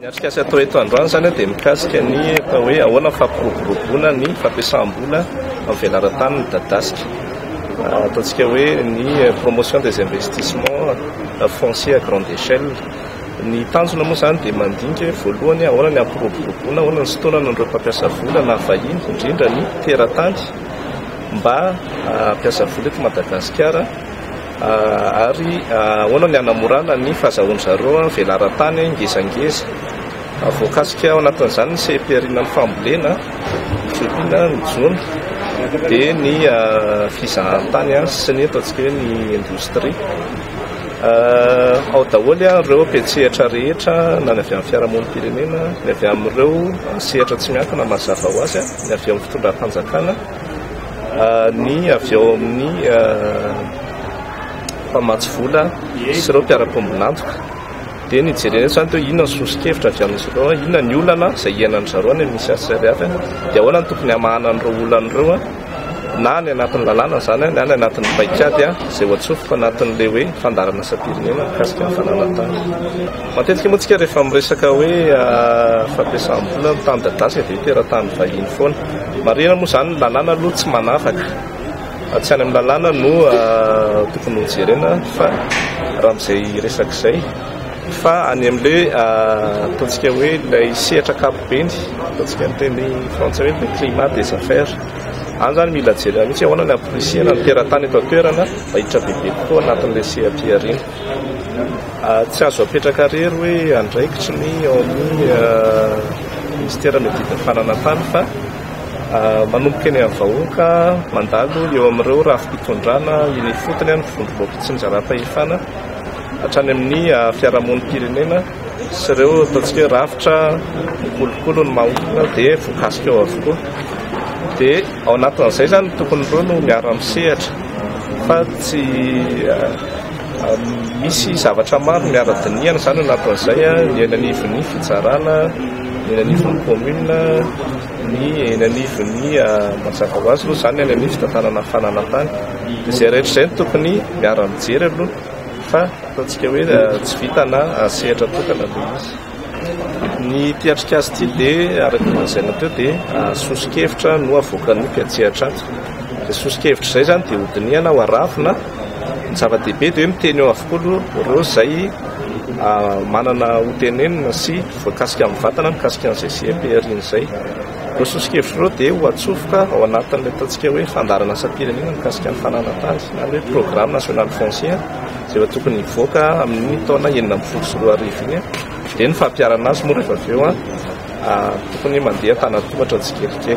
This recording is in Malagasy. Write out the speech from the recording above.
Ny atrikasa atao eto androany izany dia mikasika ny atao hoe ahoana ny fampiroboroboana ny fampiasam-bola amin'ny velaran-tany midadasika. Ataontsika hoe ny promotion des investissements fonciers à grande échelle. Ny tanjona moa izany dia mandinika hoe voalohany ahoana ny hampiroboroboana, ahoana ny sitaonana an'ireo mpampiasa vola na vahiny indrindra ny teratany mba hampiasa vola eto Madagasikara. Ary ahoana ny hanamorana ny fahazahoan-dry zareo ny velaran-tany ngezangeza? Voakasika ao anatin'izany ny seha-pihariana ny fambolena, ny fiompiana, ny jono, dia ny fizahantany sy ny ataontsika hoe ny indostria. Ao daholo ireo mpiantsehatra rehetra, na ny avy amin'ny fiarahamonim-pirenena, ny avy amin'ireo sehatra tsy miankina mazava ho azy, ny avy amin'ny fitondram-panjakana. ny avy ao amin'ny mpamatsy vola sy ireo mpiara-pombon'antoka dia ny jerena eto izany inona ny soso-kevitra avy amin'izy ireo, inona ny olana izay iainan'izy ireo any amin'ny CSRF dia ahoana no tokony hamahana an'ireo olana ireo na any anatin'ny lalàna izany na any anatin'ny paikady izay ho atsofoka anatin'ilay hoe fandaharan'asam-pirenena mikasika ny fananan-tany. Matetika moa tsika rehefa miresaka hoe fampiasam-bola amin'ny tany dadasy dia teratany vahiny foana. Marihina moa izany ny lalàna aloha tsy manavaka. Tsy any amin'ny lalàna no tokony ho jerena fa raha amin'izay resaka izay fa any amin'ilay ataontsika hoe ilay sehatra ankapobeny, ataontsika ny teny frantsay hoe le climat des affaires. Any izany mila jerena mihitsy ahoana ny hamporisihana ny teratany eto an-toerana mba hiditra bebe kokoa anatin'ilay seha-pihariana. Tsy azo apetraka irery hoe andraikitry ny ao amin'ny Minisitera Median'ny Fananantany fa manomboka eny amin'ny vahoaka mandalo eo amin'ireo rafi-pitondrana eny ifotony ny vondron'ireo mpitsinjaram-pahefana hatrany amin'ny fiarahamonim-pirenena sy ireo ataontsika hoe rafitra kolikoly ny maha-olona dia voakasika ao avokoa. Dia ao anatin'izay izany ny tokon'ireo no miara-misehatra fa tsy Misy zavatra maro miara-dinihana izany ao anatin'izay, ny eny anivon'ny fitsarana, ny eny anivon'ny kaominina, ny eny anivon'ny mazava ho azy aloha izany ny any amin'ny fitantanana fananantany. Izay rehetra izay no tokony miara-mijery aloha fa ataontsika hoe tsy vita na sehatra tokana ilay izy. Ny ity atrikasa ity dia araka ny lazaina teo dia soso-kevitra no avoakan'ny mpiantsehatra ato. Izay soso-kevitra izay izany dia hodinihana ho aravona. Ny zava-dehibe dia hoe miteny eo avokoa aloha ireo izay manana hotenenina sy voakasika amin'ny vatana mikasika an'izay CEP aorian'izay. Ireo soso-kevitra ireo dia ho atsofoka ao anatin'ilay ataontsika hoe fandaharan'asam-pirenena mikasika ny fananan-tany na ny hoe programme national foncier. Izay efa tokony hivoaka amin'iny taona enina ambin'ny folo sy roa arivo iny dia ny fampiharana azy moa rehefa avy eo tokony mandeha an-tanan-tohatra tsikelikely.